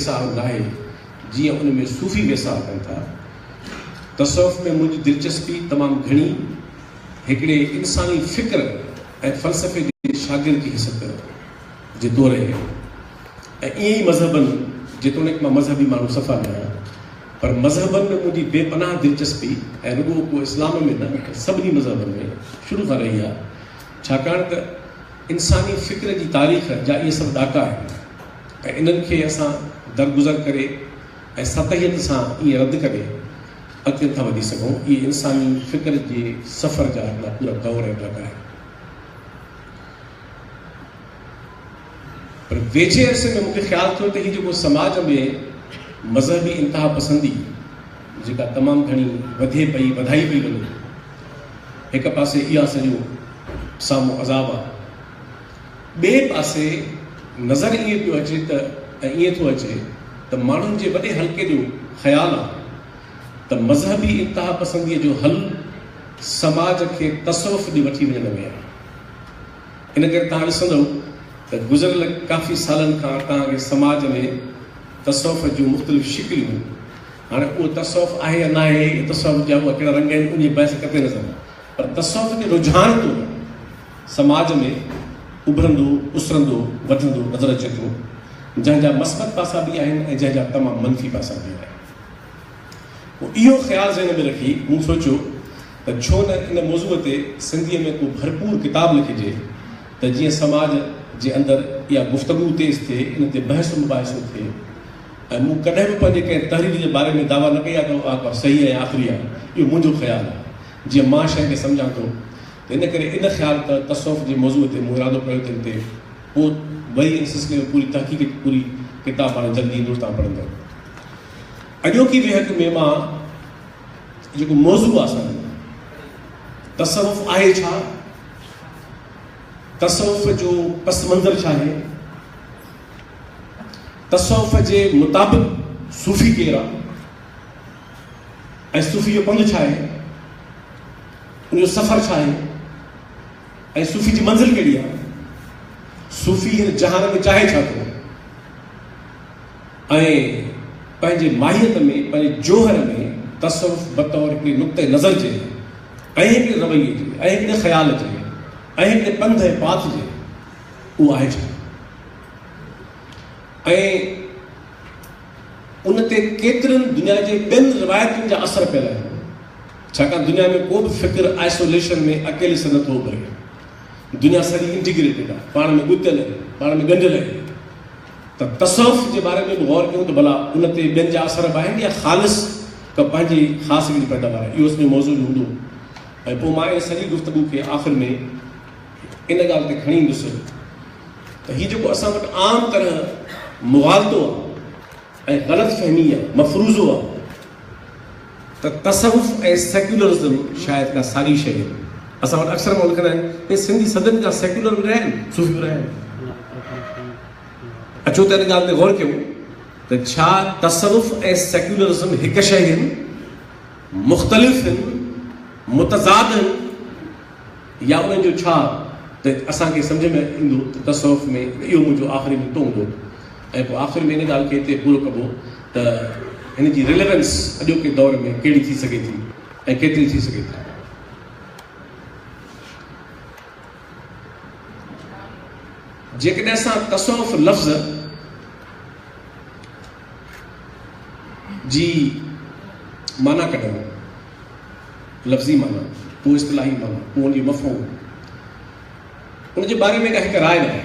ويساهه ناهي جيئن ان ۾ صوفي ويساهه ڪن ٿا. تصوف ۾ منهنجي دلچسپي تمام گهڻي هڪڙي انساني فڪر ۽ فلسفي جي شاگرد جي حيثيت جي طور رهي آهي ۽ ائين ئي مذهبن جيتوڻيڪ مان مذهبي ماڻهو صفا نه آهيان پر مذهبن ۾ منهنجي بي پناهه دلچسپي ۽ رڳو ڪو اسلام ۾ نه پر سڀني مذهبن ۾ شروع کان رهي آهي ڇاڪاڻ ته انساني فڪر جي تاريخ جا اهي سڀ ڏاڪا آهن. ۽ انهن کي اسان درگذر ڪري ۽ سطحيت سان ائين رد ڪري اڳتي نٿا وڌي سگهون. اهي انساني فڪر جي سفر جا هڪڙا پورا دور ۽ ڊگا آهن. پر ويجهي عرصي ۾ مون کي خيال ٿيو ته هي جيڪو سماج ۾ مذهبي انتها پسندي جيڪا تمام گهڻي وڌي پئي وڌائي پئي وڃي هڪ پاسي اها سڄو سامهون عذاب آهي. ٻئي پاسي نظر ائين پيو اچي ته ۽ ائين ٿو اچي ته ماڻهن جي وڏي حلقي جو خيال آهي ته مذهبي انتهاپسنديء جو حل سماج کي تصوف ڏي وٺي وڃڻ ۾ آهي. ان ڪري توهان ڏسندؤ ته گذريل ڪافي سالن کان توهان کي سماج ۾ تصوف جون مختلف شڪليون هاڻي اهو تصوف آهي يا ناهي يا تصوف جا اها ڪهڙا رنگ آهن ان جي بحث ڪٿي نظر پر تصوف جي رجحان ڪونه سماج ۾ اڀرندو، اسرندو، وڌندو نظر اچي ٿو، جنهن جا مثبت پاسا به آهن ۽ جنهن جا تمام منفي پاسا به آهن. پوء اهو خيال ذهن ۾ رکي مون سوچيو ته ڇو نه ان موضوع تي سنڌيء ۾ ڪو ڀرپور ڪتاب لکجي ته جيئن سماج جي اندر اها گفتگو تيز ٿئي، ان تي بحث و مباحثو ٿئي ۽ مون ڪڏهن به پنهنجي ڪنهن تحرير جي باري ۾ دعويٰ نه ڪئي آهي ته اها ڪا صحيح ۽ آخري آهي، اهو منهنجو خيال آهي، جيئن مان شيء کي سمجهان ٿو تنهن ڪري ان خيال ته تصوف جي موضوع تي مون ارادو ڪيو تنهن تي پوء ٻئي ۽ سلسلي ۾ پوري تحقيق جي پوري ڪتاب هاڻي جلدي ايندو توهان پڙهندؤ. اڄوڪي ويهڪ ۾ مان جيڪو موضوع آ سان ڏنو تصوف آهي ڇا؟ تصوف جو پس منظر ڇا آهي؟ تصوف جي مطابق صوفي ڪير آ؟ ۽ صوفي جو پنڌ ڇا آهي؟ ان جو سفر ڇا آهي ۽ صوفي جي منزل ڪهڙي آهي؟ صوفي هن جهان ۾ چاهي ڇا ٿو ۽ پنهنجي ماهيت ۾ پنهنجي جوهر ۾ تصوف بطور هڪڙي نقطه نظر جي ۽ هڪڙي رويي جي ۽ هڪڙي خيال جي ۽ هڪڙي پنڌ ۽ پاٿ جي اهو آهي ڇا ۽ ان تي ڪيترين دنيا جي ٻين روايتن جا اثر پيل آهن، ڇاڪاڻ دنيا ۾ ڪو به فڪر آئسوليشن ۾ اڪيلي سر نٿو اڀري. دنيا سڄي انٽيگريٽيڊ آهي، پاڻ ۾ ڳتيل آهي، پاڻ ۾ ڳنڍيل آهي. ته تصوف جي باري ۾ به غور ڪيون ته ڀلا ان تي ٻين جا اثر به آهن يا خالص ڪا پنهنجي خاص هڪڙي پيٽرن آهي. اهو سڄو موضوع به هوندو ۽ پوء مان ان سڄي گفتگو کي آخر ۾ ان ڳالهه تي کڻي ڏسو ته هي جيڪو اسان وٽ عام طرح مغالطو آهي ۽ غلط فهمي يا مفروضو آهي ته تصوف ۽ سيڪولرزم شايد ڪا ساڳي شيء آهي. اسان وٽ اڪثر ماڻهو لکندا آهن ته سنڌي صدين کان سيڪولر به رهيا آهن، صوفي به رهيا آهن. اچو ته ان ڳالهه تي غور ڪيون ته ڇا تصوف ۽ سيڪولرزم هڪ شيء آهن، مختلف آهن، متضاد آهن؟ يا انهن جو ڇا ته اسان کي سمجهه ۾ ايندو ته تصوف ۾ ته اهو منهنجو آخري نقطو هوندو ۽ پوء آخر ۾ ان ڳالهه کي هتي پورو ڪبو ته هن جي ريليونس اڄوڪي دور ۾ ڪهڙي ٿي سگهي ٿي ۽ ڪيتري ٿي سگهي ٿي. جيڪڏهن اسان تصوف لفظ. جي معنيٰ ڪڍڻ، لفظي معنيٰ، ڪو اصطلاحي معنيٰ، ڪو ان جو مفهوم، ان جي باري ۾ ڪا هڪ راء ناهي.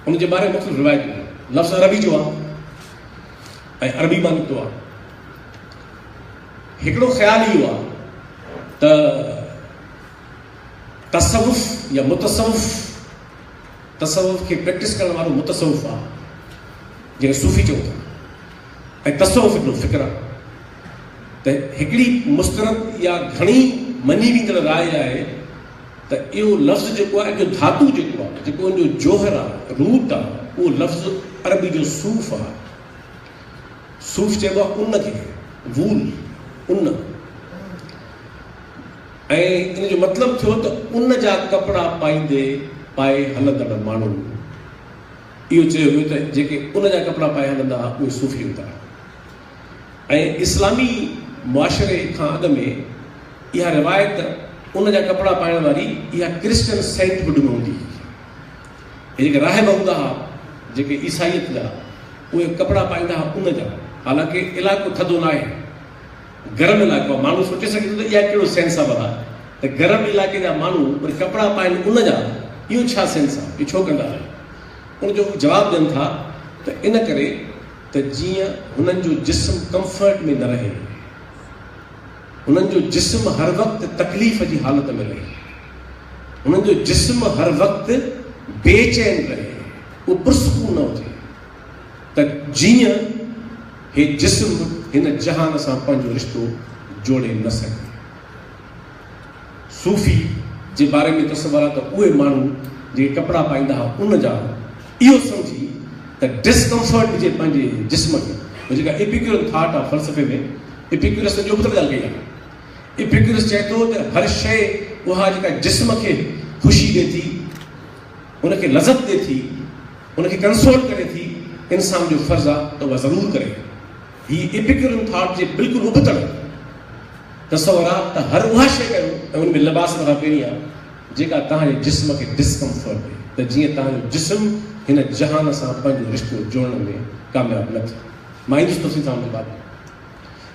ان جي باري ۾ مختلف روايتون آهن. لفظ عربي جو آهي ۽ عربي مان نڪتو آهي. هڪڙو خيال اهو آهي ته تصوف يا متصوف تصوف کي پريڪٽس ڪرڻ وارو متصوف آ جنکي صوفي چئون ٿا ۽ تصوف هڪڙو فڪر آ ته هڪڙي مسترد يا گهڻي مڃي ويندڙ راء آهي ته اهو لفظ جيڪو آهي جو ڌاتو جيڪو آهي جيڪو ان جو جوهر آ روٽ آ اهو لفظ عربي جو صوف آ صوف چئبو آ ان کي وول ان ۽ ان جو مطلب ٿيو ته ان جا ڪپڙا پائيندي پائي هلندڙ ماڻهن اهو چيو ويو ته جيڪي ان جا ڪپڙا پائي هلندا ها اهي صوفي هوندا ها ۽ اسلامي معاشري کان اڳ ۾ اها روايت ان جا ڪپڙا پائڻ واري اها ڪرسچن سينٽ هوڊ ۾ هوندي هئي هي جيڪي راهب هوندا ها جيڪي عيسائيت جا اهي ڪپڙا پائيندا ها ان جا حالانڪه علائقو ٿڌو ناهي گرم علائقو آ ماڻهو سوچي سگهي ٿو ته اها ڪهڙو سينس آ ڀلا ته گرم علائقي جا ماڻهو وري ڪپڙا پائين ان جا اهو ڇا سينس آ اهو ڇو ڪندا آهن ان جو هو جواب ڏين ٿا ته ان ڪري ته جيئن هنن جو جسم ڪمفرٽ ۾ نه رهي هنن جو جسم هر وقت تڪليف جي حالت ۾ رهي هنن جو جسم هر وقت بي چين رهي اهو پرسڪون نه هجي ته جيئن هي جسم هن جهان سان پنهنجو رشتو جوڙي نه سگهي. صوفي جي باري ۾ تصور آ ته اهي ماڻهو جيڪي ڪپڙا پائيندا ها ان جا اهو سمجهي ته Discomfort جي پنهنجي جسم کي هو جيڪا Epicurean Thought آ فلسفي ۾ Epicurus ته ٻيو بدل ڳالهه ڪئي آ. Epicurus چئي ٿو ته هر شيء اها جيڪا جسم کي خوشي ڏي ٿي، ان کي لذت ڏي ٿي، ان کي ڪنسول ڪري ٿي، انسان جو فرض آ ته اها ضرور ڪري. هي ايپيڪيورن ٿاٽ جي بلڪل ابتڙ تصور آ ته هر اها شيء ڪريو ۽ ان ۾ لباس مٿان پهريان جيڪا توهان جي جسم کي ڊسڪمفرٽ ڏي ته جيئن توهان جو جسم هن جهان سان پنهنجو رشتو جوڙڻ ۾ ڪامياب نه ٿئي. مان ايندس تفصيل سان ان تي بعد ۾.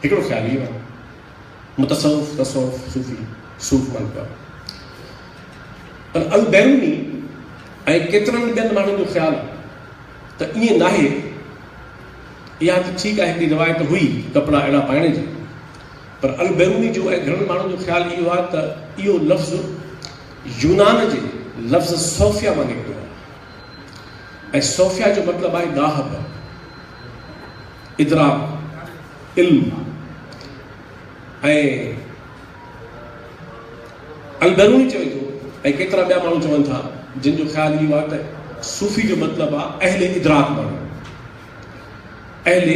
هڪڙو خيال اهو آ. متصوف، تصوف، صوفي، صوف ملڪه، پر البيروني ۽ ڪيترن ٻين ماڻهن جو خيال ته ائين ناهي. اها ته ٺيڪ آهي هڪڙي روايت هئي ڪپڙا اهڙا پائڻ جي، پر البيروني جو ۽ گهڻن ماڻهن جو خيال اهو آهي ته اهو لفظ يونان جي لفظ صوفيا مان نڪتو آهي ۽ صوفيا جو مطلب آهي ڏاهپ، اضراب. علم ۽ البيروني چوي ٿو ۽ ڪيترا ٻيا ماڻهو چون ٿا جن جو خيال اهو آهي ته صوفي جو مطلب آهي اهل ادراڪ ماڻهو اهل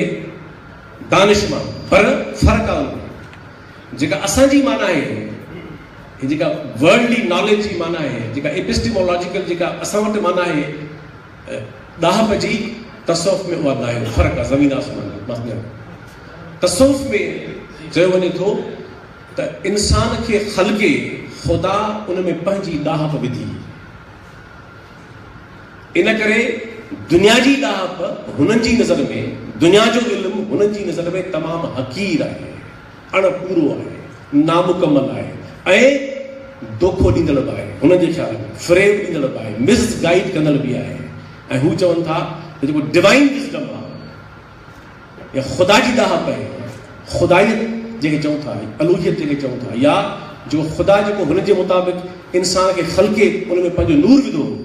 دانش ماڻهو پر فرق آهي جيڪا اسان جي معنی آهي جيڪا ورلڊلي ناليج جي معنی آهي جيڪا ايپسٽيمولاجيڪل جيڪا اسان وٽ معنی آهي ۽ ڏاهپ جي تصوف ۾ اها دائري فرق آهي زمين آسمان جو مثلاً تصوف ۾ چيو وڃي ٿو ته انسان کي خلقي خدا ان ۾ پنهنجي ڏاهپ وڌي ان ڪري دنيا جي ڏاهپ هنن جي نظر ۾ دنيا جو علم هنن جي نظر ۾ تمام حقير آهي اڻ پورو آهي، نامڪمل آهي ۽ دوکو ڏيندڙ به آهي، هنن جي خيال ۾ فريب ڏيندڙ به آهي، مس گائيڊ ڪندڙ به آهي ۽ هو چون ٿا ته جيڪو ڊوائين وزڊم آهي يا خدا جي ڏاهپ آهي، خدائيت جنهن کي چئون ٿا، الوهيت جنهن کي چئون ٿا يا جيڪو خدا جيڪو هن جي مطابق انسان کي خلقي ان ۾ پنهنجو نور وڌو هو،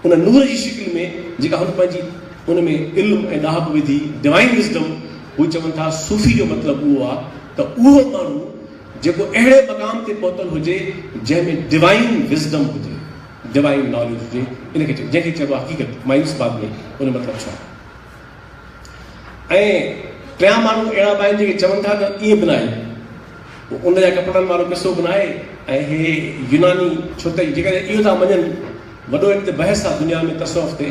ان نور جي شڪل ۾ جيڪا هن پنهنجي ان ۾ علم ۽ ڏاهپ وڌي، Divine Wisdom، هو چون ٿا صوفي جو مطلب اهو آ ته اهو ماڻهو جيڪو اهڙي مقام تي پهتل هجي جنهن ۾ Divine Wisdom هجي، Divine Knowledge هجي، ان کي جنهن کي چئبو آ حقيقت، مايوس بعد ۾ ان جو مطلب ڇا؟ ۽ ٽيان ماڻهو اهڙا به آهن جيڪي چون ٿا ته ائين به ناهي هو ان جا ڪپڙن وارو قصو به ناهي ۽ هي يوناني ڇو ته جيڪڏهن اهو ٿا مڃن وڏو هن تي بحث آهي دنيا ۾ تصوف تي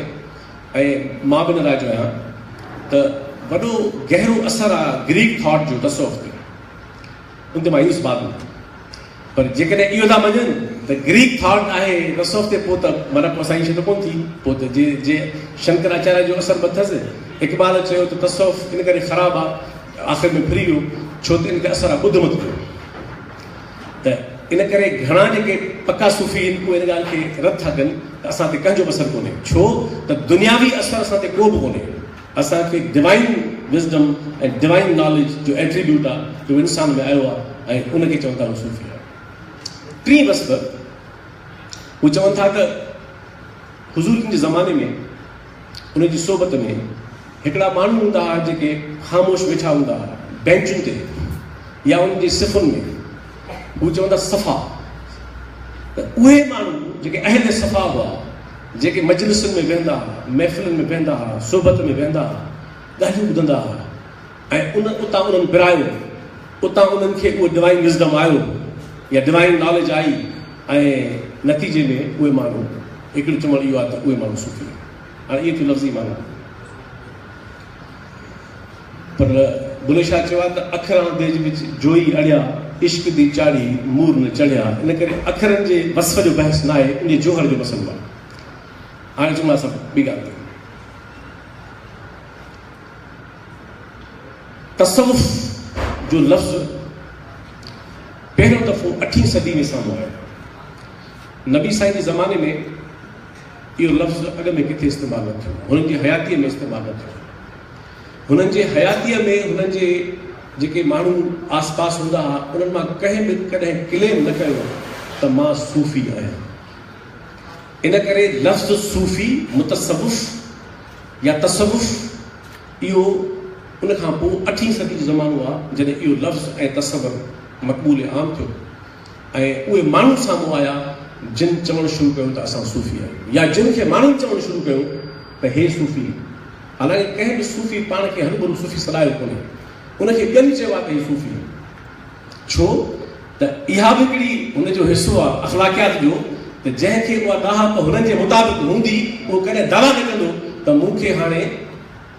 ۽ مان به نه رائج آهيان ته وڏو گهرو اثر آهي گريڪ ٿاٽ جو تصوف تي ان تي مايوس به آهي پر جيڪڏهن اهو ٿا مڃن ته گريڪ ٿاٽ آهي رسوف تي پوء ته من ڪوسائي شيء ته ڪونه ٿي پوء ته جي جي شنڪر آچاريا جو اثر به اٿس اقبال چيو ته تصوف ان ڪري خراب آهي آخر ۾ ڦري ويو ڇو ته ان کي اثر آهي ٻڌ مت ڪيو ته ان ڪري گهڻا جيڪي پڪا صوفي آهن اهي ان ڳالهه کي رد ٿا ڪن ته اسان تي ڪنهن جو به اثر ڪونهي ڇو ته دنياوي اثر اسان تي ڪو به ڪونهي اسان کي ڊوائين وزڊم ۽ ڊوائين ناليج جو ايٽريبيوٽ آ جو انسان ۾ آيو آ ۽ ان کي چون ٿا هو صوفي آ. ٽين وسبر هو چون ٿا ته حضور جن جي زماني ۾ ان جي صحبت ۾ هڪڙا ماڻهو هوندا هئا جيڪي خاموش ويٺا هوندا هئا بينچن تي يا ان جي صفن ۾ هو چون ٿا صفا ته اهي ماڻهو جيڪي اهل صفا هئا جيڪي مجلسن ۾ ويهندا ها، محفلن ۾ بيهندا ها، صحبت ۾ ويهندا ها، ڳالهيون ٻڌندا ها ۽ ان اتان انهن پرايو، اتان انهن کي اهو ڊوائين وزڊم آيو يا ڊوائين ناليج آئي ۽ نتيجي ۾ اهي ماڻهو هڪڙي چوڻ اهو آهي ته اهي ماڻهو صوفي آهن. هاڻي اهي ٿيون لفظي معنيٰ. پر بلي شاهه چيو آهي ته اکران ديج وچ جوئي اڙيا، عشق دي چاڙهي مور نه چڙهيا. ان ڪري اکرن جي وصف جو بحث نه آهي، انجي جوهر جو مسئلو آهي. هاڻي اچون ٿا اسان ٻي ڳالهه تي. تصوف جو لفظ پهريون دفعو اٺين صدي ۾ سامهون آيو. نبي سائين جي زماني ۾ اهو لفظ اڳ ۾ ڪٿي استعمال نه ٿيو، هنن جي حياتيء ۾ استعمال نه ٿيو. هنن جي حياتيء ۾ هنن جي جيڪي ماڻهو آس پاس هوندا ها، انهن مان ڪنهن به ڪڏهن ڪليم نه ڪيو ته مان صوفي آهيان. ان ڪري لفظ صوفي، متصوف يا تصوف، اهو ان کان پوء اٺين صدي جو زمانو آهي، جڏهن اهو لفظ ۽ تصور مقبول عام ٿيو. ۽ اهي ماڻهو سامهون آيا جن چوڻ شروع ڪيو ته اسان صوفي آهيون يا جن کي ماڻهن چوڻ شروع ڪيو ته هي صوفي آهن حالانڪه ڪنهن به صوفي پاڻ کي هرڀرو صوفي سڏايو ڪونهي ان کي ٻين چيو آهي ته هي صوفي آهن ڇو ته اها به هڪڙي هن جو حصو آهي اخلاقيات جو ته جنهن کي اها ڏاهپ هنن جي مطابق هوندي اهو ڪڏهن دعويٰ نه ڪندو ته مون کي هاڻي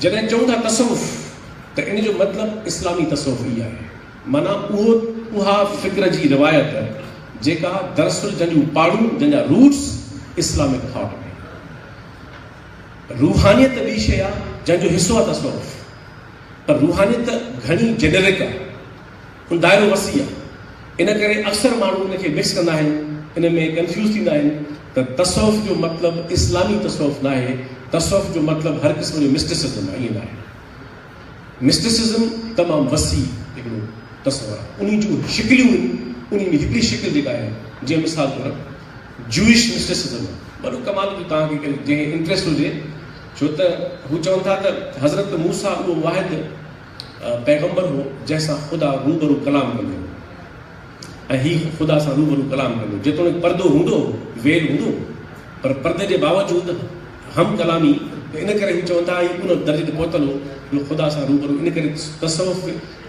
جڏهن چئون ٿا تصوف ته ان جو مطلب اسلامي تصوف ئي آهي معنيٰ اهو اها فڪر جي روايت جيڪا دراصل جنهن جون پاڙون جنهن جا روٽس اسلامڪ ٿاٽ ۾ روحانيت ته ٻي شيء آهي جنهن جو حصو آهي تصوف پر روحانيت ته گهڻي جينرڪ آهي هن دائرو وسيع آهي ان ڪري اڪثر ماڻهو ان کي مڪس ڪندا آهن ان ۾ ڪنفيوز ٿيندا آهن ته تصوف جو مطلب اسلامي تصوف ناهي تصوف جو مطلب هر قسم جو مسٽسزم آهي ائين ناهي مسٽسزم تمام وسيع هڪڙو تصور آهي انهي جون شڪليون آهن انهي ۾ هڪڙي شڪل جيڪا آهي جيئن مثال طور جوئش مسٽسزم وڏو ڪمال جو توهان کي جنهن کي انٽرسٽ هجي ڇو ته هو چون ٿا ته حضرت موسيٰ اهو واحد پيغمبر هو جنهن سان خدا روبرو ڪلام ڪندو هو ۽ هي خدا سان روبرو ڪلام ڪندو هو جيتوڻيڪ پردو هوندو هو، ويل هوندو هو، پر پردي جي باوجود هم ڪلامي ته ان ڪري هو چون ٿا هي ان درجي تي پهتل هو جو خدا سان روبرو ان ڪري تصوف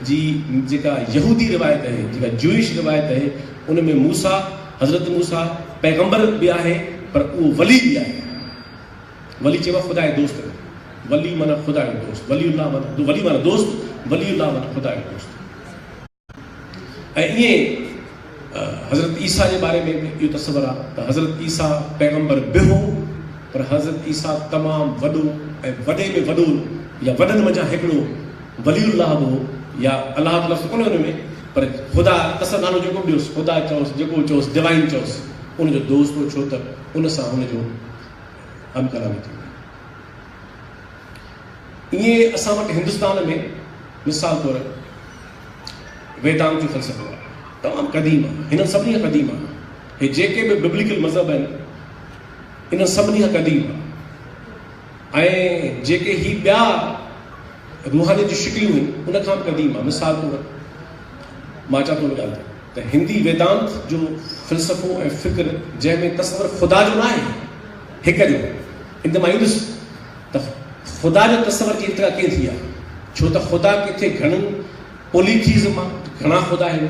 جي جيڪا يهودي روايت اهي جيڪا جوئش روايت اهي ان ۾ موسيٰ حضرت موسيٰ پيغمبر به آهي پر اهو ولي به آهي. ولي چيو خدا جو دوست ڪو ولي معنيٰ خدا جو دوست ولي الله معنيٰ ولي معنيٰ دوست ولي الله معنيٰ خدا جو دوست ۽ ائين حضرت عيسيٰ جي باري ۾ به اهو تصور آهي ته حضرت عيسيٰ پيغمبر به هو پر حضرت عيسيٰ تمام وڏو ۽ وڏي ۾ وڏو يا وڏن منجهان هڪڙو ولي الله به هو يا الله لفظ ڪونه ان ۾ پر خدا اصل نالو جيڪو به ڏيوس خدا چئوس جيڪو چئوس ڊوائن چئوس ان جو دوست هو ڇو ته ان سان هن جو ڪم ڪندا ويٺا آهن. ائين ئي اسان وٽ هندستان ۾ مثال طور ويدانت جو فلسفو آهي. تمام قديم آهي. هنن سڀني کان قديم آهي. هي جيڪي به ببليڪل مذهب آهن انهن سڀني کان قديم آهي. ۽ جيڪي هي ٻيا روحانيت جون شڪليون آهن ان کان به قديم آهي. مثال طور مان چان ٿو ٻڌايان ته ته هندي ويدانت جو فلسفو ۽ فڪر جنهن ۾ تصور خدا جو ناهي هڪ جو انت مان ايندس ته خدا جو تصور جي انتها ڪيئن ٿي آهي ڇو ته خدا ڪٿي گهڻن پوليٿيز مان گهڻا خدا آهن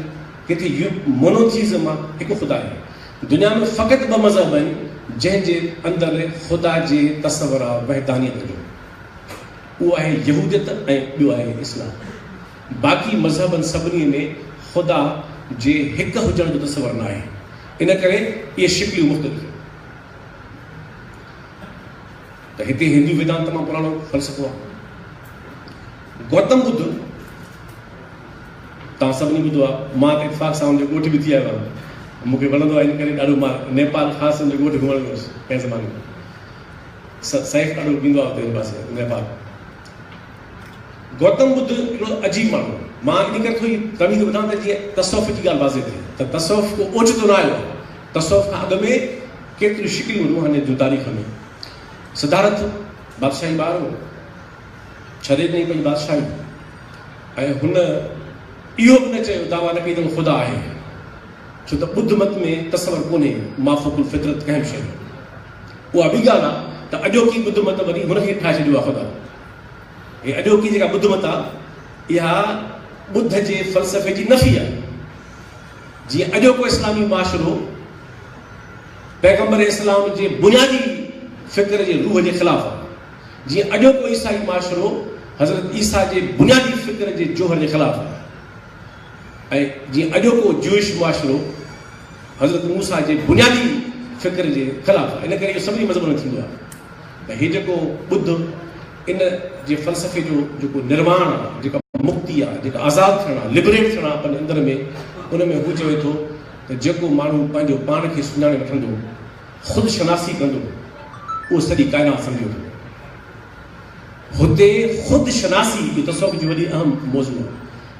ڪٿي مونوٿيز مان هڪ خدا آهي دنيا ۾ فقط ٻه مذهب آهن جنهن جي اندر خدا جي تصور آهي وحدانيت جو اهو آهي يهوديت ۽ ٻيو آهي اسلام باقي مذهبن سڀني ۾ خدا جي هڪ هجڻ جو تصور ناهي، ان ڪري اهي شڪليون مختلف آهن. ته هتي هندو ويدانت تمام پراڻو فلسفو آهي. گوتم ٻڌ توهان سڀني ٻڌو آهي، مان ته اتفاق سان ان جو ڳوٺ به ٿي آيو آهيان. مون کي وڻندو آهي ان ڪري ڏاڍو مان نيپال خاص ان جو ڳوٺ گهمڻ ويو هوس ڪنهن زماني ۾. سيف ڏاڍو ويندو آهي اتي ان پاسي نيپال. گوتم ٻڌ هڪڙو عجيب ماڻهو هو. مان ان ڪري ٿوري تمهيد ٻڌان ته جيئن تصوف جي ڳالهه واضح ٿئي ته تصوف ڪو اوچتو نه آيو آهي. تصوف کان اڳ ۾ ڪيتريون شڪليون روحانيت جون تاريخ ۾. سدارٿ بادشاهي ٻار هو. ڇڏي ڏنائين پنهنجي بادشاهي ۽ هن اهو به نه چيو دعويٰ نه ڪئي ته هو خدا آهي ڇو ته ٻڌ مت ۾ تصور ڪونهي مافوق الفطرت ڪنهن به شيء جو. اها ٻي ڳالهه آ ته اڄوڪي ٻڌ مت وري هن کي ٺاهي ڇڏيو آ خدا. هي اڄوڪي جيڪا ٻڌ مت آ اها ٻڌ جي فلسفي جي نفي آ. جيئن اڄوڪو اسلامي معاشرو پيغمبر اسلام جي بنيادي فڪر جي روح جي خلاف آ. جيئن اڄوڪو عيسائي معاشرو حضرت عيسيٰ جي بنيادي فڪر جي جوهر جي خلاف آ. ۽ جيئن اڄوڪو جوئش معاشرو حضرت موسيٰ جي بنيادي فڪر جي خلاف آهي. ان ڪري اهو سڀني مذهبن ۾ ٿيندو آهي ته هي جيڪو ٻڌ ان جي فلسفي جو جيڪو نرواڻ آهي، جيڪا مڪتي آهي، جيڪا آزاد ٿيڻ آهي، Liberate ٿيڻ آهي پنهنجي اندر ۾، ان ۾ هو چوي ٿو ته جيڪو ماڻهو پنهنجو پاڻ کي سڃاڻي وٺندو، خود شناسي ڪندو، اهو سڄي ڪائنات سمجهي وٺندو. هتي خود شناسي جو تصوف جي وڏي اهم موضوع آهي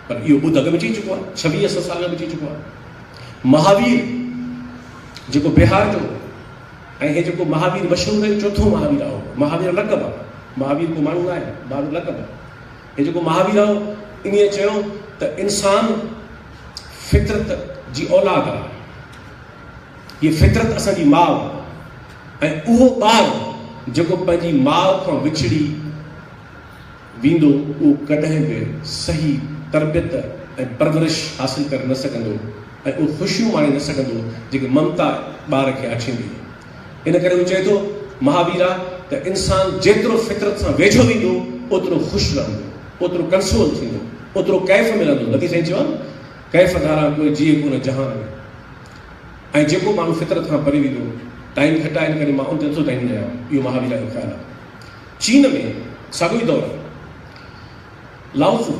پر اهو ٻڌ اڳ ۾ چئي چڪو آهي ڇويهه سو سال اڳ ۾ چئي چڪو آهي مهاوير جيڪو بهار جو ۽ هي جيڪو مهاوير مشهور ڪيو چوٿون مهاوير آهو مهاوير لقب آهي مهاوير ڪو ماڻهو آهي مهاوير لقب آهي هي جيڪو مهاوير آهو ان چيو ته انسان فطرت جي اولاد آهي هي فطرت اسان جي ماء ۽ اهو ٻار جيڪو پنهنجي ماء کان وڇڙي ويندو اهو ڪڏهن به صحيح تربيت ۽ پرورش حاصل ڪري نه سگهندو ۽ اهو خوشيون ماڻي نه سگهندو جيڪي ممتا ٻار کي آڇيندي ان ڪري هو چئي ٿو مهاويرا ته انسان جيترو فطرت سان ويجهو ويندو اوترو خوش رهندو اوترو ڪنسول ٿيندو اوترو ڪيف ملندو نٿي سائين چيو آهي نه ڪيف ڌاران ڪوئي جيئي ڪونه جهان ۾. ۽ جيڪو ماڻهو فطرت کان پري ويندو ٽائيم گهٽ آهي ان ڪري مان ان تي نٿو ڌيان ڏيان اهو مهاويرا جو خيال آهي چين ۾ ساڳيو ئي دور لاوزو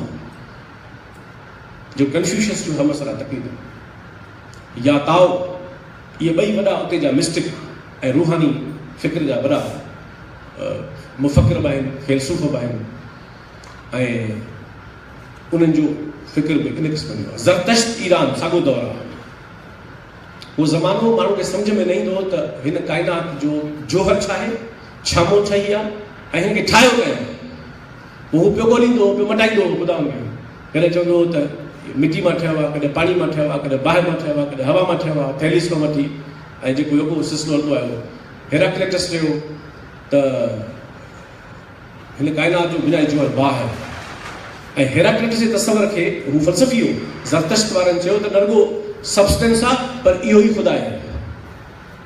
جو ڪنفيوشس جو همعصرا تقريبن يا تائو اهي ٻئي وڏا اتي جا مسٽڪ ۽ روحاني فڪر جا وڏا مفڪر به آهن فيلسوف به آهن ۽ انهن جو فڪر به ان قسم جو زرتشت ايران ساڳو دور آهي اهو زمانو ماڻهو کي سمجهه ۾ نه ايندو هو ته هن ڪائنات جو جوهر ڇا آهي، ڇا مون ٺهي آ ۽ هن کي ٺاهيو ڪنهن؟ پوء هو پيو ڳوليندو هو، پيو مٽائيندو هو خدائن کي. ڪڏهن چوندو هو ته مٽي مان ٺهيو آ، ڪڏهن پاڻي مان ٺهيو آ، ڪڏهن باهه مان ٺهيو آ، ڪڏهن هوا مان ٺهيو آ، ٿيليس کان وٺي ۽ جيڪو يوڪو سلسلو هلندو آيو هو. هيراڪليٽس چيو ته. هن ڪائنات جو بنيادي جوهر باهه آهي ۽ هيراڪليٽس جي تصور کي هو فلسفي هو. زرتشت وارن چيو ته نه رڳو سبسٽنس آهي پر اهو ئي خدا آهي.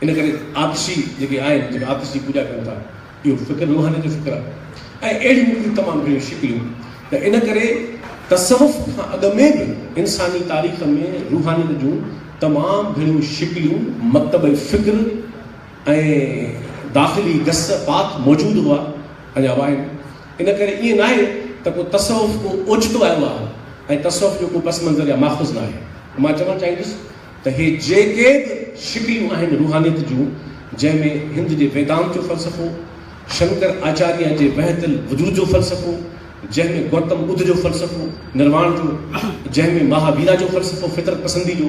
ان ڪري آتشي جيڪي آهن، جيڪي آتش جي پوڄا ڪن ٿا، اهو فڪر روحانيت جو فڪر آهي ۽ اهڙيون مختلف تمام گهڻيون شڪليون ته ان ڪري تصوف کان اڳ ۾ به انساني تاريخ ۾ روحانيت جون تمام گهڻيون شڪليون، مڪتب فڪر، ۽ داخلي گس پاڪ موجود هئا ۽ اڃا آهن ان ڪري ائين ناهي ته ڪو تصوف ڪو اوچتو آيو آهي ۽ تصوف جو ڪو پس منظر يا ماخذ ناهي مان چوڻ چاهيندس ته هي جيڪي به شڪليون آهن روحانيت جون جنهن ۾ هند جي ويدانت جو فلسفو شنڪر آچاريا جي وحدت الوجود جو فلسفو جنهن ۾ گوتم ٻڌ جو فلسفو نرواڻ جو جنهن ۾ مها ويرا جو فلسفو فطرت پسندي جو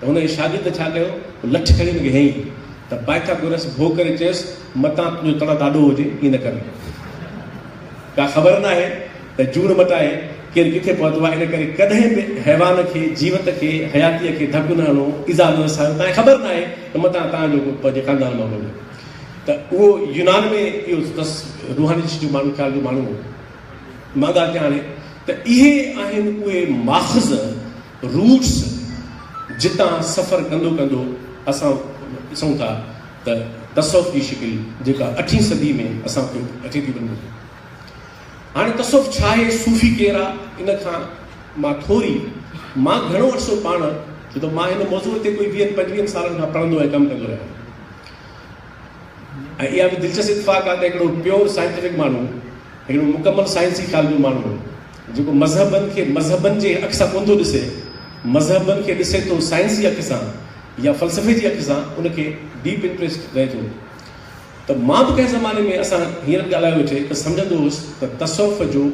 ته هن اشهادي ته ڇا ڪيو، هو لٺ کڻي هن کي هنئي ته پائٿاگورس ڀو ڪري چيس، متان تنهنجو تڙ ڏاڍو هجي، ائين نه ڪر. ڪا خبر ناهي ته جوڻ مٽائي ڪير ڪٿي پهتو آهي، ان ڪري ڪڏهن به حيوان کي، جيوت کي، حياتيء کي ڌڪ نه هڻو، ايذاء نه رسايو، تانکي خبر ناهي ته متان تان جو ڪو پنهنجي خاندان مان هجي. ته اهو يونان ۾ اهو اٿس، روحاني چشتي ماڻهو، خيال جو ماڻهو هو. مان ڳالهه ڪيان هاڻي ته اهي آهن اهي ماخذ روٽس جتان سفر ڪندو ڪندو اسان ڏسون ٿا ته تصوف جي شڪل جيڪا اٺين صدي ۾ اسان کي اچي ٿي وڃي ٿي. هاڻي تصوف ڇا آهي، صوفي ڪير آ، ان کان مان ٿوري مان گهڻو عرصو پاڻ ڇو ته مان هن موضوع تي ڪوئي ويهن پنجويهن سالن کان پڙهندو ۽ ڪم ڪندو رهيو آهيان ۽ اها به دلچسپ اتفاق آ ته هڪڙو پيور سائنٽيفڪ ماڻهو هڪڙو مڪمل سائنسي خيال جو ماڻهو جيڪو مذهبن کي مذهبن جي اک سان ڪونه ٿو ڏسي، مذهبن کي ڏسي ٿو سائنس جي اک سان يا فلسفي جي اک سان، ان کي ڊيپ انٽريسٽ رهي ٿو ته مان به ڪنهن زماني ۾ اسان هينئر به ڳالهايو هجي ته سمجهندو هوس ته تصوف جو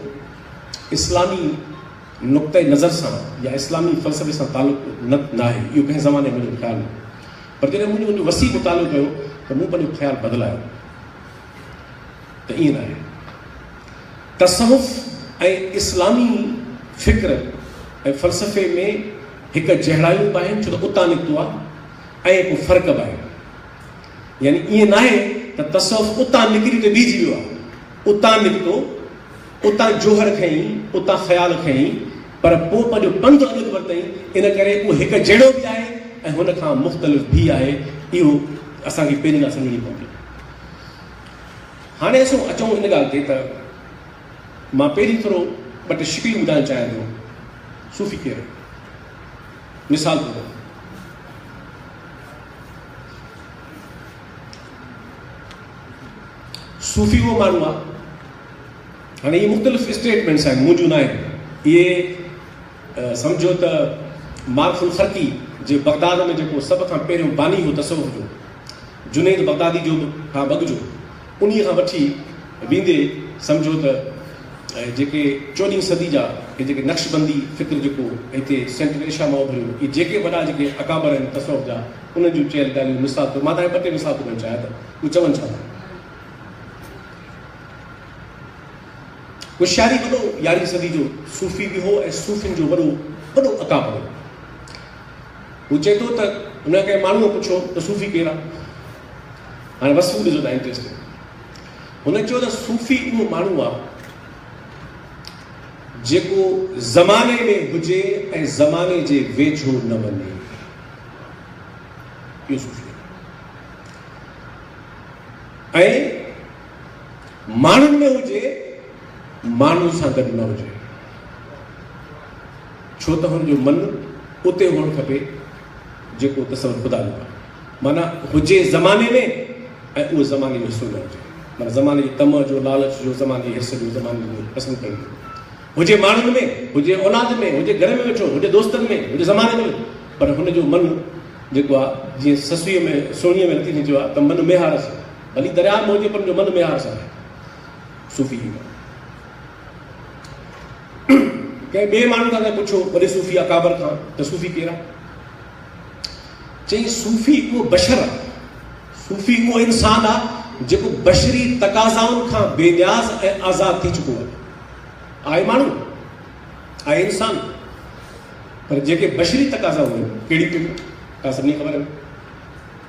اسلامي نقطه نظر سان يا اسلامي فلسفي سان تعلق ناهي، اهو ڪنهن زماني منهنجو خيال هو پر جڏهن مون جو وسيع مطالعو ڪيو ته مون پنهنجو خيال بدلايو. ته ائين ناهي. تصوف ۽ اسلامي فڪر ۽ فلسفي ۾ هڪ جهڙايون به آهن ڇو ته اتان نڪتو آهي ۽ ڪو فرق به آهن. يعني ائين ناهي ته تصوف اتان نڪري ته بيهجي ويو آهي. اتان نڪتو، اتان جوهر کنئي، اتان خيال کنئي پر پوء پنهنجو پنڌ اڳت ورتائين ان ڪري اهو هڪ جهڙو به آهي ۽ هن کان مختلف به آهي اهو اسان کي پهرين ڳالهه سمجهڻي پوندي. هاڻي اسون اچون ان ڳالهه تي ته مان پهرين ٿورو ٻه ٽي شڪليون ٻڌائڻ چاهيان ٿو. صوفي ڪير؟ مثال طور صوفي اهو ماڻهو آهي هاڻي اهي مختلف اسٽيٽمنٽس آهن منهنجون نه آهن اهي سمجھو ته مارف الخرقي جي بغداد ۾ جيڪو سڀ کان پهريون باني هو تصوف جو جنيد بغدادي جو به کان بگجو انهيء کان وٺي ويندي سمجهو ته جيڪي چوڏهين صدي جا هي جيڪي نقشبندي فڪر جيڪو هتي سينٽرل ايشيا مان اڀريو اهي جيڪي وڏا جيڪي اڪابر آهن تصوف جا انهن جون چيل ڳالهيون مثال طور مان تهان کي ٻه ٽي مثال ٿو ڏيڻ چاهيان ته اهي چون ڇا ٿا هوشياري وڏو يارهين صدي جو صوفي به هو ۽ صوفين جو وڏو وڏو اڪابر هو. هو چئي ٿو ته هن کان ڪنهن ماڻهوء پڇيو ته صوفي ڪير آهي؟ هاڻي وصف ڏسو ته انٽريسٽنگ هن چيو ته صوفي اهو ماڻهو آهي جيڪو زماني ۾ هجي ۽ زماني جي ويجهو نه وڃي اهو صوفي آهي ۽ ماڻهن ۾ هجي، ماڻهن سان گڏ نه هجي. ڇو ته هن جو من اتي هئڻ کپي جيڪو تصور خدا جو آهي. معنيٰ هجي زماني ۾ ۽ اهو زماني جو حصو نه هجي. معنيٰ زماني جي طمع جو، لالچ جو، زماني جي حرص جو، زماني جي پسند ڪرڻ جو. هجي ماڻهن ۾، هجي اولاد ۾، هجي گهر ۾ ويٺو، هجي دوستن ۾، هجي زماني ۾ پر هن جو من جيڪو آهي جيئن سسئيء ۾ سهڻيء ۾ رتي جي چيو آهي ته من ميهار سان. ڀلي درياهه موجي پن جو من ميار سان صوفي جي ڳالهه ڪنهن ٻئي ماڻهو کان ته پڇو وڏي صوفي اڪابر کان ته صوفي ڪير آهي چئي صوفي اهو بشر آهي صوفي اهو انسان آهي جيڪو بشري تقاضائن کان بي نياز ۽ آزاد ٿي چڪو آهي آهي ماڻهو آهي انسان پر جيڪي بشري تقاضا هئن ڪهڙي ڪهڙي ڪا سڀني خبر آهي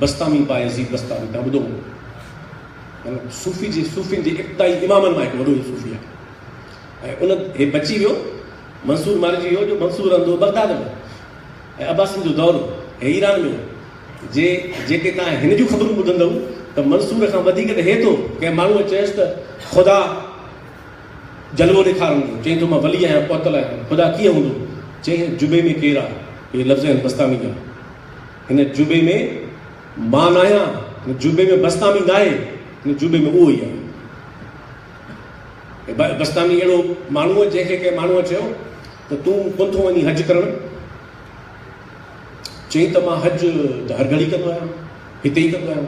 بسطامي بايزيد بسطامي توهان ٻڌو هوندو مطلب صوفي جي صوفين جي ابتدائي امامن مان هڪ وڏو صوفي آهي ۽ ان هي بچي ويو منصور مارجي ويو جو منصور رهندو بغداد ۾ ۽ عباسين جو دور هي ايران ۾ جي جيڪي تان هن جون خبرون ٻڌندو ته منصور کان وڌيڪ ته هي ٿو ڪنهن ماڻهو چيس ته خدا جلوو ڏيکارندو چئين ٿو مان ولي آهيان پهتل آهيان خدا ڪيئن هوندو چئين جبي ۾ ڪير آهي هي لفظ آهن بسطامي جا هن جوبي ۾ مان ناهيان، هن جوبي ۾ بسطامي ناهي، هن جوبي ۾ اهو ئي آهي. هي بسطامي اهڙو ماڻهو جنهن کي ڪنهن ماڻهوء چيو ته تون ڪونه ٿو وڃين حج ڪرڻ؟ چيائين ته مان حج ته هر گهڙي ڪندو آهيان، هتي ئي ڪندو آهيان،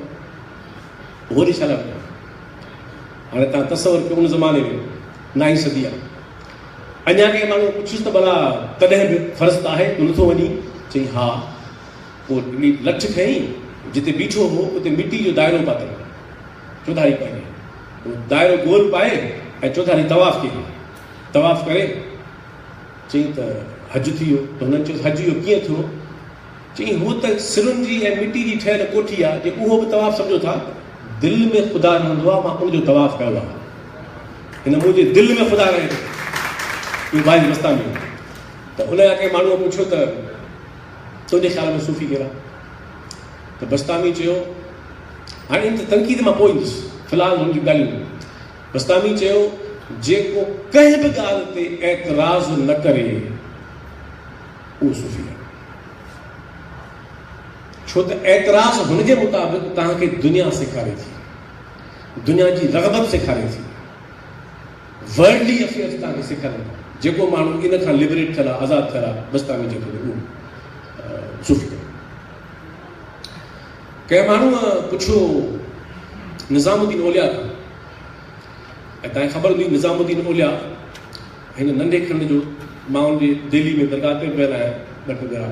هوري ڇا لاء وڃان؟ هاڻي تان تصور ڪيو ان زماني ۾ نائين صدي آهي. اڃا ڪنهن ماڻهوء پڇيس ته ڀلا ڪڏهن به فرض ته آهي ڪو نٿو وڃين؟ چيائين ها. پوء ٽنڊي لٺ کنئي جتي بيٺو هو اتي مٽي جو دائرو پاتائين. چوڌاري پنهينء اهو دائرو گول پائي ۽ چوڌاري طواف ڪيائين. طواف ڪري چيائين ته حج ٿي ويو ته هنن چيس حج اهو ڪيئن ٿيو چيائين، هوء ته سرن جي ۽ مٽي جي ٺهيل ڪوٺي آهي، جي اهو به طواف سمجهو ٿا، دل ۾ خدا رهندو آهي، مان ان جو طواف ڪيو آهي. هن منهنجي دل ۾ خدا رهي ٿو. اهو باعث بستامي هو ته ان جا ڪنهن ماڻهوء پڇيو ته تنهنجي خيال ۾ صوفي ڪهڙا؟ ته بستامي چيو، هاڻي ان تي تنقيد مان پوء ايندس، في الحال هن جون ڳالهيون ٻڌ. بستامي چيو، جيڪو ڪنهن به ڳالهه تي اعتراض نه ڪري. اهو صوفي نه آهي. ڇو ته اعتراض هن جي مطابق توهان کي دنيا سيکاري ٿي، دنيا جي رغبت سيکاري ٿي، ورلڊلي افيئرز توهان کي سيکارين ٿا، جيڪو ماڻهو ان کان لبريٽ ٿيل آهي، آزاد ٿيل آهي، بس توهان کي جيڪو ڏي اهو صوفي نه. ڪنهن ماڻهوء پڇيو نظام الدين اولياء کان ۽ توهان کي خبر هوندي نظام الدين اولياء هن ننڍي کنڊ جو ماڻهن جي دهلي ۾ درگاهه تي پيل آهي ٻه ٽه ڳڙا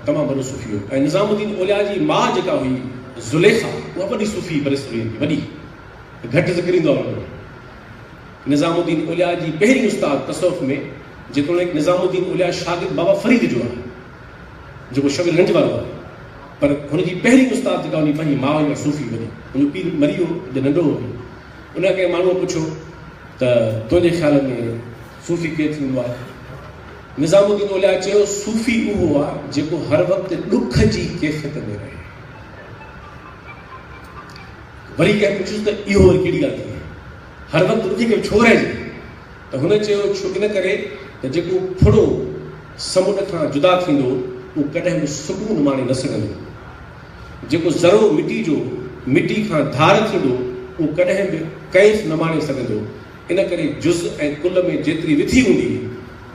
تمام وڏو صوفي هو ۽ نظام الدين اولياء جي ماء جيڪا هئي زليخا اها وڏي صوفي برصغير جي وڏي ته گهٽ ذڪر ايندو آهي انهن جو نظام الدين اولياء جي پهرين استاد تصوف ۾ جيتوڻيڪ نظام الدين اولياء شاگرد بابا فريد جو آهي جيڪو شبير گنج وارو آهي پر هن جي پهرين استاد جيڪا هئي پنهنجي ماء هئي اها صوفي وڏي هن جو پيء مري ويو جڏهن ننڍو هو ان کان ڪنهن ماڻهوء پڇيو ته تنهنجي خيال ۾ صوفي ڪير ٿيندو آهي؟ نظام الدين اولياء چيو، صوفي اهو آهي جيڪو هر وقت ڏک جي ڪيفيت ۾ رهي. وري ڪنهن پڇيس ته اهو وري ڪهڙي ڳالهه ٿي هر وقت ڏکي ۾ ڇو رهجي؟ ته هن چيو ڇو ان ڪري ته جيڪو ڦڙو سمنڊ کان جدا ٿيندو اهو ڪڏهن به سڪون ماڻي نه سگهندو. جيڪو ذرو مٽي جو مٽي کان ڌار ٿيندو اهو ڪڏهن به ڪئنس نه ماڻي سگهندو ان ڪري جز ۽ ڪل ۾ جيتري وٿي هوندي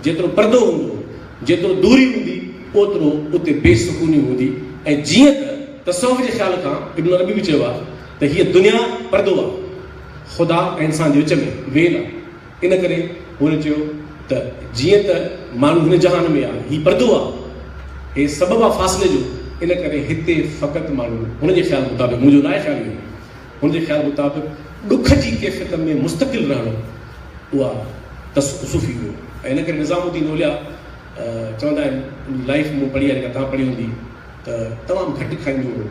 جيترو پردو هوندو جيترو دوري هوندي اوترو اتي بي سڪوني هوندي ۽ جيئن ته تصوف جي خيال کان ابن عربي به چيو آهي ته هيء دنيا پردو آهي خدا ۽ انسان جي وچ ۾ ويل آهي. ان ڪري هن چيو ته جيئن ته ماڻهو هن جهان ۾ آ، هي پردو آ، هي سبب آ فاصلي جو، ان ڪري هتي فقط ماڻهو، هن جي خيال مطابق، مون جو نه آهي خيال اهو، هن جي خيال مطابق ڏک جي ڪيفيت ۾ مستقل رهڻو اها تصوفي هو ۽ ان ڪري نظام الدين اولياء چوندا آهن ان جي لائيف مون پڙهي آهي جيڪا توهان پڙهي هوندي ته تمام گهٽ کائيندو هو،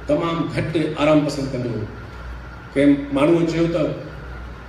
تمام گهٽ آرام پسند ڪندو هو، ڪنهن ماڻهوء چيو ته.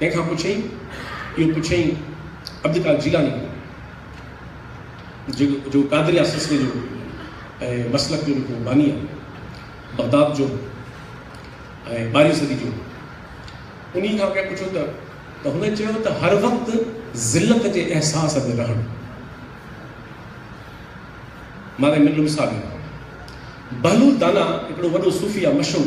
ڪنهن کان پڇين؟ اهو پڇيائين عبدالقادر جيلاني کان، جيڪو قادريه سلسلي جو ۽ مسلڪ جو به ڪو باني آهي، بغداد جو ۽ ٻارهين صدي جو هو. انهيء کان ڪنهن پڇيو ته. ته هن چيو ته هر وقت ذلت جي احساس ۾ رهڻ. مارئي ملو مثال ڏنو. بهلول دانا هڪڙو وڏو صوفي آهي، مشهور.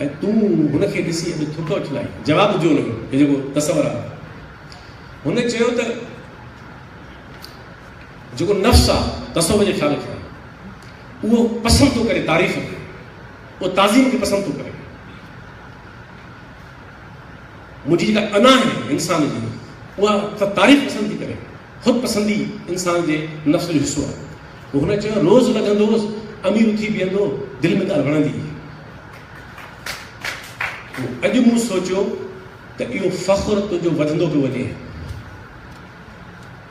۽ تون هن کي ڏسي اڄ ٿڪ وٺل آهين؟ جواب ڏجو ان جو ته جيڪو تصور آهي. هن چيو ته جيڪو نفس آهي تصور جي خيال کي اهو پسند ٿو ڪري تعريف کي اهو تعظيم کي پسند ٿو ڪري منهنجي جيڪا انا آهي انسان جي اها تعريف پسند ٿي ڪري خود پسندي انسان جي نفس جو حصو آهي. پوء هن چيو، روز لڳندوس، امير اٿي بيهندو، دل ۾ ڳالهه وڻندي هئي. پوء اڄ مون سوچيو ته اهو فخر تنهنجو وڌندو پيو وڃي.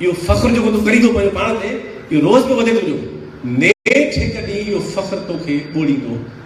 اهو فخر جيڪو تون ڪرين ٿو پنهنجو پاڻ تي، اهو روز پيو وڌي تنهنجو. نيٺ هڪ ڏينهن اهو فخر توکي ٻوڙيندو،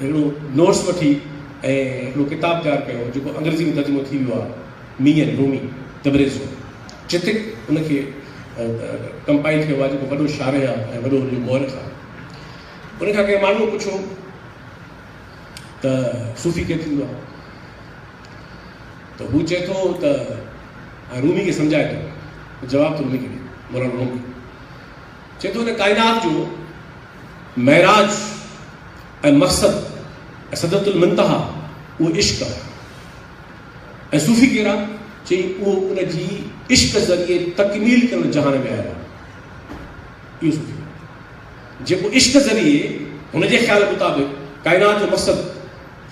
هڪڙو نوٽس وٺي ۽ هڪڙو ڪتاب تيار ڪيو جيڪو انگريزي ۾ ترجمو ٿي ويو آهي مي اينڊ رومي تبريزو چتڪ ان کي ڪمپائل ڪيو آهي جيڪو وڏو شارح آهي ۽ وڏو ان جو مورخ آهي ان کان ڪنهن ماڻهوء پڇيو ته صوفي ڪير ٿيندو آهي ته هو چئي ٿو ته رومي کي سمجهائي ٿو جواب ته رومي کي ڏي مولانا رومي چئي ٿو ته ڪائنات جو معراج ۽ مقصد ۽ سدرت المنتها اهو عشق آهي ۽ صوفي ڪهڙا چئي اهو ان جي عشق ذريعي تڪميل ڪرڻ جهان ۾ آيو اهو صوفي جيڪو عشق ذريعي هن جي خيال مطابق ڪائنات جو مقصد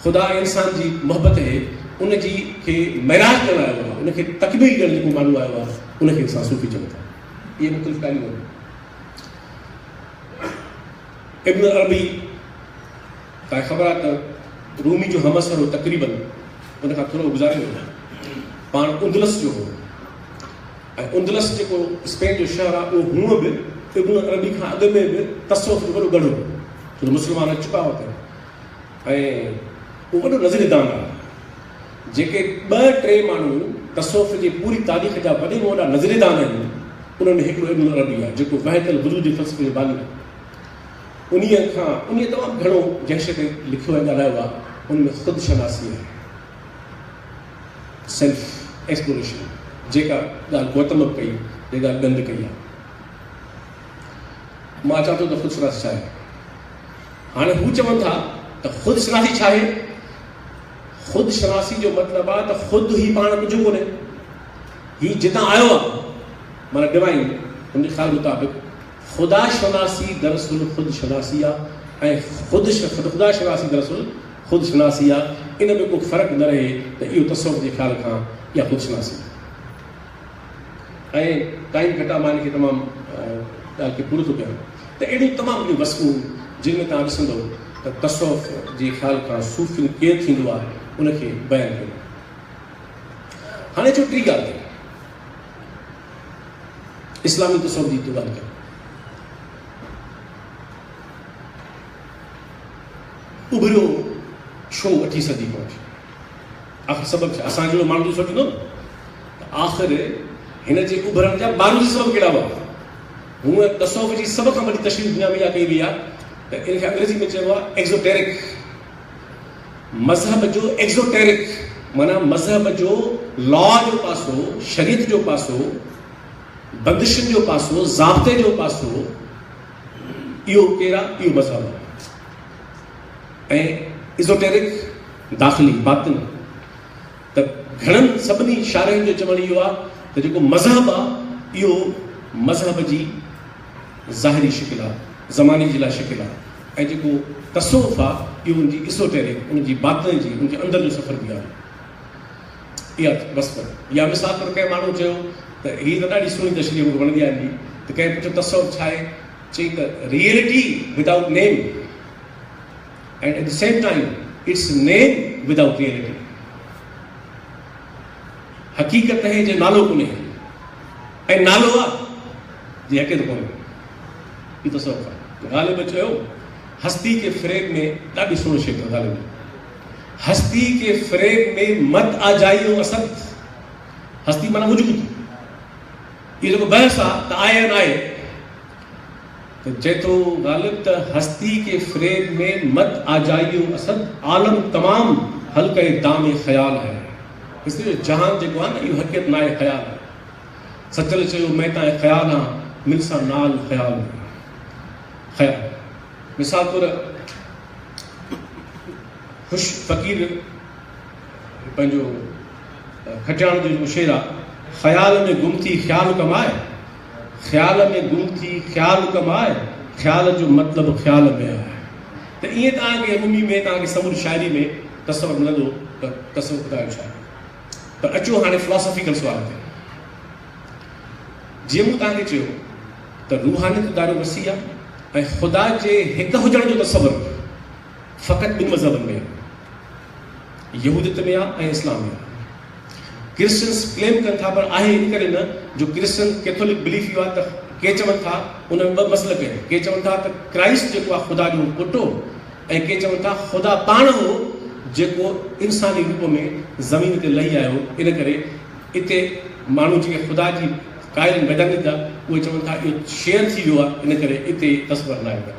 خدا ۽ انسان جي محبت هي ان جي کي معراج ڪرڻ آيو آهي ان کي تڪميل ڪرڻ جيڪو ماڻهو آيو آهي ان کي انسان صوفي چون ٿا اهي مختلف ڳالهيون آهن. ابن عربي کان خبر آهي ته رومي جو همعصر هو تقريباً ان کان ٿورو گذاريو هو. پاڻ اندلس جو هو ۽ اندلس جيڪو اسپين جو شهر آهي اهو هونء به ابن عربي کان اڳ ۾ به تصوف جو وڏو ڳڙهه هو ڇو ته مسلمان اچ چڪا هئا اتي ۽ هو وڏو نظري دان آهي. جيڪي ٻه ٽي ماڻهو تصوف جي پوري تاريخ جا وڏي ۾ وڏا نظريه دان آهن، انهن ۾ هڪڙو ابن عربي آهي، جيڪو وحدة الوجود جي فلسفي جو باني آهي. انهيء کان انهيء تمام گهڻو جنهن شيء تي لکيو ۽ ڳالهايو آهي، ان ۾ خود شناسي آهي، Self Exploration، جيڪا ڳالهه گوتم به ڪئي، جيڪا ڳالهه ڳنڌ ڪئي آهي. مان اچان ٿو ته خود شناسي ڇا آهي؟ هاڻي هو چون ٿا ته خود شناسي ڇا آهي؟ خود شناسي جو مطلب آ ته خود هي پاڻ ڪجهه ڪونهي. هي جتان آيو آ معنيٰ ڊوائين هن جي خيال مطابق خدا شناسي دراصل خود شناسي آ ۽ خود خدا شناسي دراصل خود شناسي آ ان ۾ ڪو فرق نه رهي ته اهو تصوف جي خيال کان يا خود شناسي ۽ ٽائيم گهٽا مان ان کي تمام ڳالهه کي پورو ٿو ڪيان ته اهڙيون تمام گهڻيون وصفون جن ۾ توهان ڏسندؤ ته تصوف جي خيال کان صوفين ڪير ٿيندو آهي ان کي بيان ڪيو آهي. هاڻي اچو ٽي ڳالهه تي اسلامي تصوف جي ته ڳالهه ڪيون اڀريو ڇو اٺين صدي پهچ آخر سبب ڇا؟ اسان جهڙو ماڻهو ته سوچيندو نه ته آخر هن جي اڀرڻ جا بارودي سبب ڪهڙا هئا؟ هونئن تصوف جي سڀ کان وڏي تشريح دنيا ۾ اها ڪئي وئي آهي ته ان کي انگريزي ۾ چئبو آهي ايڪزوٽيرڪ. مذهب جو ايڪزوٽيرڪ معنيٰ مذهب جو لا جو پاسو، شريعت جو پاسو، بندشن جو پاسو، ضابطي جو پاسو، اهو ڪير آهي؟ اهو مذهب آهي. ۽ ايزوٽيرڪ، داخلي، باطن، ته گهڻن سڀني شارحين جو چوڻ اهو آهي ته جيڪو مذهب آهي اهو مذهب جي ظاهري شڪل آهي، زماني جي لاء شڪل آهي ۽ جيڪو تصوف آهي اهو ان جي ايزوٽيرڪ، ان جي باطن جي، ان جي اندر جو سفر به آهي. اها وصف يا مثال طور ڪنهن ماڻهو چيو ته هي ته ڏاڍي سهڻي تشريح مون کي وڻندي آهي هن جي ته ڪنهن پڇيو تصوف ڇا آهي؟ چيائين ته reality without name. and at the same time its name without reality حقيقت نهي جي نالو ڪونهي ۽ نالو آ جي حقيقت ڪونهي هي تصوف آ غالب چيو هستي کي فريب ۾ ڏاڍي سوڻي شيء ٿو غالب هستي کي فريب ۾ مت آ جائيو اسد هستي معنی وجود هي جيڪو بحث آ ته آهي نه آهي چئي ٿو غالب ته هستي ڪي فريب ۾ مت آجائيو اسد عالم تمام حلقئه دام خيال هي هستي جو جهان جيڪو آهي نه اهو حقيقت ناهي خيال آهي سچل چيو مين تانء خيال هان مل سان نال خيال خيال مثال طور خوش فقير پنهنجو کٽياڻ جو شعر آهي خيال ۾ گم ٿي خيال ڪمائي خيال ۾ گم ٿي خيال ڪم آء خيال جو مطلب خيال ۾ آء ته ائين توهان کي رومي ۾ توهان کي سموري شاعري ۾ تصور ملندو ته تصور خدا جو شاعر ته اچو هاڻي فلاسافيڪل سوال تي جيئن مون توهان کي چيو ته روحانيت دارو وسيع ۽ خدا جي هڪ هجڻ جو تصور فقط ٻن مذهبن ۾، يهوديت ۾ ۽ اسلام ۾. ڪرسچنس ڪليم ڪن ٿا پر آهي ان ڪري نه جو ڪرسچن ڪيٿولڪ بليف اهو آهي ته ڪي چون ٿا ان ۾ ٻه مسلڪ آهن ڪي چون ٿا ته ڪرائسٽ جيڪو آهي خدا جو پٽ هو ۽ ڪي چون ٿا خدا پاڻ هو جيڪو انساني روپ ۾ زمين تي لهي آيو ان ڪري اتي ماڻهو جيڪي خدا جي قائل ويدانيڪ اهي چون ٿا اهو شيئر ٿي ويو آهي ان ڪري اتي تصور نه آيو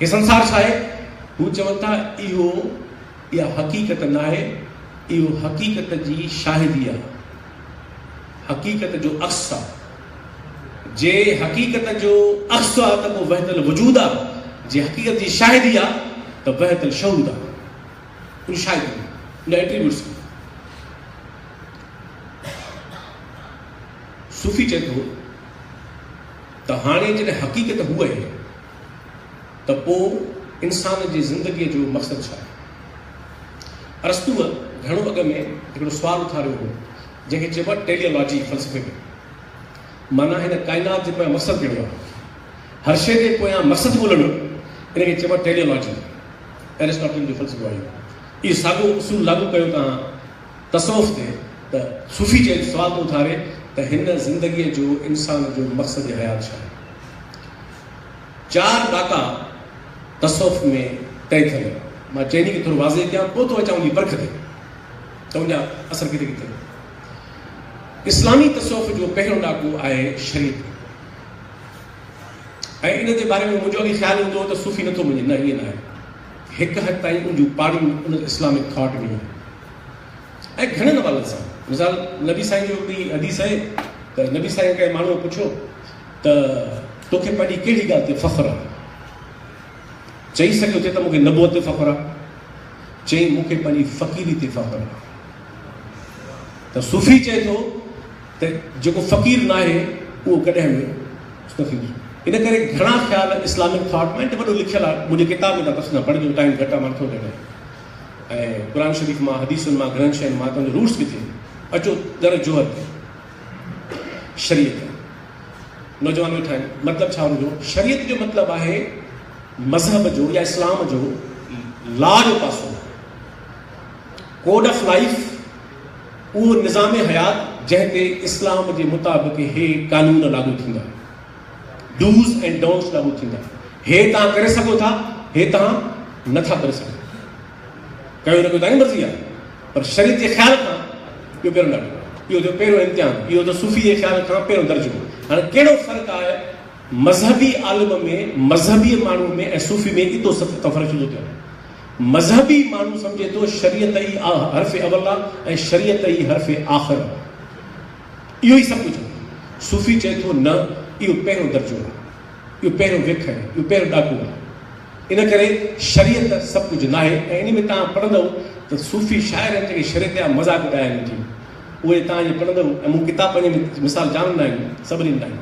هي سنسار ڇا آهي؟ هو چون ٿا، اهو، اها حقيقت ناهي، اهو حقيقت جي شاهدي آهي، حقيقت جو عڪس آهي. جي حقيقت جو عڪس آهي ته پوء وحدت الوجود آهي، جي حقيقت جي شاهدي آهي ته وحدت الشهود آهي. ان شاهدين، ان ايٽريبيوٽس کي صوفي چئي ٿو ته هاڻي جڏهن حقيقت هوء آهي، ته پوء انسان جي زندگيء جو مقصد ڇا آهي؟ ارسطوء گهڻو اڳ ۾ هڪڙو سوال اٿاريو هو، جنهن کي چئبو آهي ٽيلي لاجي فلسفي جو معنيٰ هن ڪائنات جي پويان مقصد ڪهڙو آهي؟ هر شيء جي پويان مقصد ڳولڻ ان کي چئبو آهي ٽيلي لاجي ارسطوٽل جو فلسفو آهي. اهو ساڳيو اصول لاڳو ڪيو توهان تصوف تي ته صوفي چئي سوال ٿو اٿاري ته هن زندگيء جو انسان جو مقصد حيات ڇا آهي؟ چار ڏاڪا تصوف ۾ طئي ٿيل آهن. مان چئني کي ٿورو واضح ڪيان پوء ٿو اچان ان جي پرک تي ته ان جا اثر ڪٿي ڪٿي ٿيندا. اسلامي تصوف جو پهريون ڏاڪو آهي شريعت ۽ ان جي باري ۾ منهنجو اڳي خيال هوندو هو ته صوفي نٿو مڃي نه ائين ناهي هڪ حد تائين ان جون پاڙيون ان اسلامڪ ٿاٽ ۾ آهن ۽ گهڻن حوالن سان مثال نبي سائين جو هڪڙي حديث آهي ته نبي سائين کي ماڻهو پڇيو ته توکي پنهنجي ڪهڙي ڳالهه تي فخر آهي؟ چئي سگهيو ٿي ته مون کي نبوت تي فخر آهي. چيائين مون کي پنهنجي فقيري تي فخر آهي. ته صوفي چئي ٿو ته جيڪو فقير ناهي اهو ڪڏهن به صوفي نه ان ڪري گهڻا خيال اسلامڪ ٿاٽ ۾ وڏو لکيل آهي منهنجي ڪتاب ۾ تفصيل سان پڙهجو ٽائيم گهٽ آهي مان ٿو ڏيڻ ۽ قرآن شريف مان حديثن مان گهڻن شين مان تنهنجو روٽس ڪٿي اچو در جوهر تي شريعت نوجوان ويٺا آهن مطلب ڇا ان جو شريعت جو مطلب آهي مذهب جو يا اسلام جو لا جو پاسو ڪوڊ آف لائف اهو نظام حيات جنهن تي اسلام جي مطابق هي قانون لاڳو ٿيندا ڊوز ۽ ڊونس لاڳو ٿيندا هي تان ڪري سگهو ٿا هي تان نٿا ڪري سگهو ڪيو نه ڪيو تان مرضي آهي پر شريط جي خيال کان اهو پهريون ڏاڪو، اهو ٿيو پهريون امتحان، اهو ٿيو صوفي جي خيال کان پهريون درجو. هاڻي ڪهڙو فرق آهي مذهبي عالم ۾، مذهبي ماڻهوء ۾ ۽ صوفي ۾ ايتو سخت ڪم فرق ڇو ٿو ٿئي؟ مذهبي ماڻهو سمجهي ٿو شريعت ئي حرف اول آهي ۽ شريعت ئي حرف آخر آهي. اهو ئي سڀ ڪجهه آهي. صوفي چئي ٿو نه اهو پهريون درجو آهي. اهو پهريون وک آهي، اهو پهريون ڏاڪو آهي. ان ڪري شريعت سڀ ڪجهه ناهي ۽ انهي ۾ توهان پڙهندؤ ته صوفي شاعر هن جيڪي شريعت جا مذاق اڏايا آهن جي اهي توهان جي پڙهندؤ ۽ مون ڪتاب پنهنجي ۾ مثال جام ڏنا آهن سڀ ڏنا آهن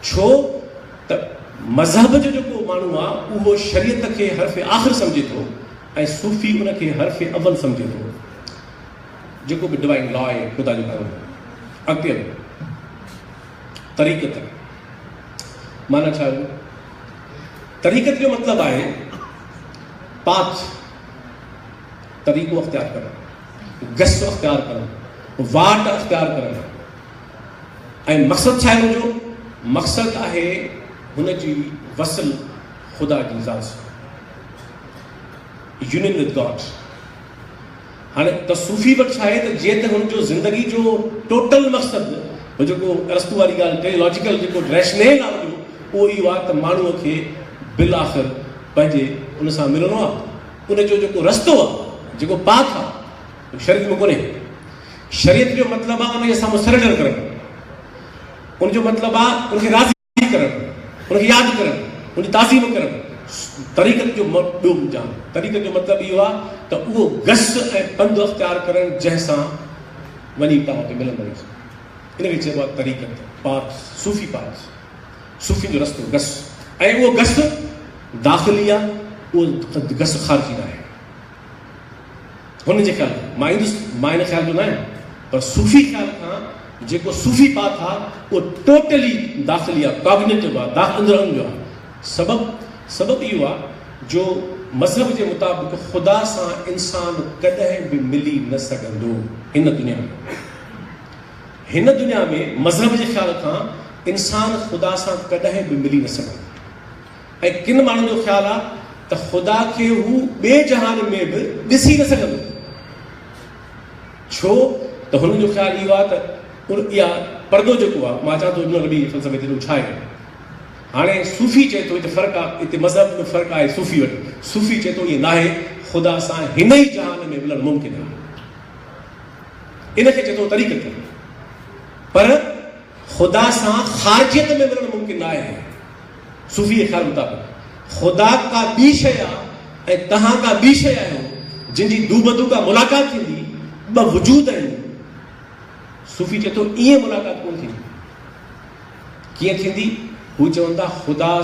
ڇو ته مذهب جو جيڪو ماڻهو آهي اهو شريعت کي حرف آخر سمجهي ٿو ۽ صوفي ان کي حرف اول سمجهي ٿو جيڪو به ڊوائن لا آهي خدا جو قانون اڳتي هلو. طريقت معنيٰ ڇا هئي؟ طريقت جو مطلب آهي پاٿ طريقو اختيار ڪرڻ گس اختيار ڪرڻ واٽ اختيار ڪرڻ ۽ مقصد ڇا هو جو مقصد آهي هن جي وصل خدا جي ذات سان يونين وٿ گاڊ هاڻي تصوفي به ڇا آهي ته جيئن ته هن جو زندگي جو ٽوٽل مقصد هو جيڪو ارسطو واري ڳالهه ڪئي لاجيڪل جيڪو ريشنيل آهي جو اهو اهو آهي ته ماڻهوء کي بالآخر پنهنجي ان سان ملڻو آهي ان جو جيڪو رستو آهي جيڪو پاٿ آهي شريعت ۾ ڪونهي شريعت جو مطلب آهي ان جي سامهون سرينڊر ڪرڻ ان جو مطلب آهي ان کي راضي تعريف ڪرڻ، ان کي ياد ڪرڻ، ان جي تعظيم ڪرڻ طريقت جو ٻيو مجام. طريقت جو مطلب اهو آهي ته اهو گس ۽ پنڌ اختيار ڪرڻ جنهن سان وڃي پاء کي ملندڙ هجي. ان کي چئبو آهي طريقت، پاٿ، صوفي پاٿ، صوفين جو رستو، گس. ۽ اهو گس داخلي آهي، اهو گس خارجي ناهي. هن جي خيال مان ايندس، مان هن خيال جو نه آهيان، پر صوفي خيال کان جيڪو صوفي پاٿ آ، اهو ٽوٽلي داخلي آ، ڪاگنيٽو آ، داخ اندر اهن جو آ. سبب؟ سبب اهو آ جو مذهب جي مطابق خدا سان انسان ڪڏهن به ملي نه سگهندو هن دنيا ۾. هن دنيا ۾ مذهب جي خيال کان انسان خدا سان ڪڏهن به ملي نه سگهندو. ۽ ڪن ماڻهن جو خيال آهي ته خدا کي هو ٻئي جهان ۾ به ڏسي نه سگهندو، ڇو ته هنن جو خيال اهو آهي ته ان اها پردو جيڪو آهي، مان چوان ٿو ابن عربي جي فلسفي تي ته ڇا هي هاڻي صوفي چئي ٿو هتي فرق آهي هتي مذهب جو فرق آهي صوفي وٽ صوفي چئي ٿو ائين ناهي خدا سان هن ئي جهان ۾ ملڻ ممڪن آهي ان کي چئي ٿو طريقت پر خدا سان خارجيت ۾ ملڻ ممڪن ناهي. صوفيء خيال مطابق خدا ڪا ٻي شيء آ ۽ توهان ڪا ٻي شيء آهيو، جن جي دوبدو ڪا ملاقات ٿيندي، ٻه وجود آهن. صوفي چئي ٿو، ائين ملاقات ڪونه ٿيندي. ڪيئن ٿيندي؟ هو چون ٿا، خدا.